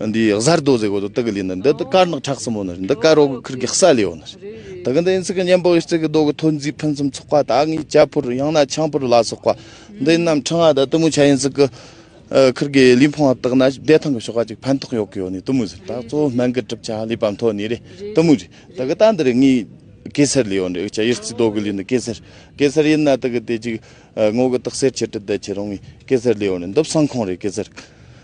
འདི་གཟའ་རྡོ་རྗེ་གོ་དོ་དགེ་ལེ་ནི་འདི་དཀར་ནག་ཁྲག་གསུམ་མོ་ནི་འདི་དཀར་རོ་གི་ཁུར་གི་སྲ་ལེ་ཡོ་ནི་དགེ་འདི་ཡིན་ཚིག་གི་གཉེན་པོ་ཡིན་ཚིག་གི་རྡོ་གི་ཐོ་འཛིན་ཕུན་སུམ་ཚོགས་པ་དག་ངའི་རྒྱ་ཕུར་ཡང་ན་ཆང་ཕུར་ལ་སོགས་པ་འདི་རྣམས་ཕྲེང་བ་དང་གཏུམ་མོའི་ཆ་ཡིན་ཚིག་གི་ཁུར་གི་ལུས་འཕོང་བ་དག་ན་བདེ་ཐང་གི་ཞོགས་པ་གཅིག་ཕན་ཐོགས་ཡོག་གི་ཡོ་ནི་གཏུམ་མོའི་ཟུར་དག་གཙོ་བོ་སྨན་གི་གྲུབ་ཆ་ལུས་པའམ་ཐོ་ནི་རེ་གཏུམ་མོའི་རེ་དག་གི་རྟ་འདི་རེ་ངའི་གེ་སར་ལེ་ཡོ་ནི་ཡིག་ཆ་ཡེར་ཚིག་རྡོ་གི་ལུས་ནི་གེ་སར་གེ་སར་ཡིན་ན་དག་གི་དེ་གཅིག་ངོ་གི་དག་སེར་ཆེ་དྲི་བདལ་ཆེ་རང་ངའི་གེ་སར་ལེ་ཡོ་ནི་འདི་བསང་ཁང་རེ་གེ་སར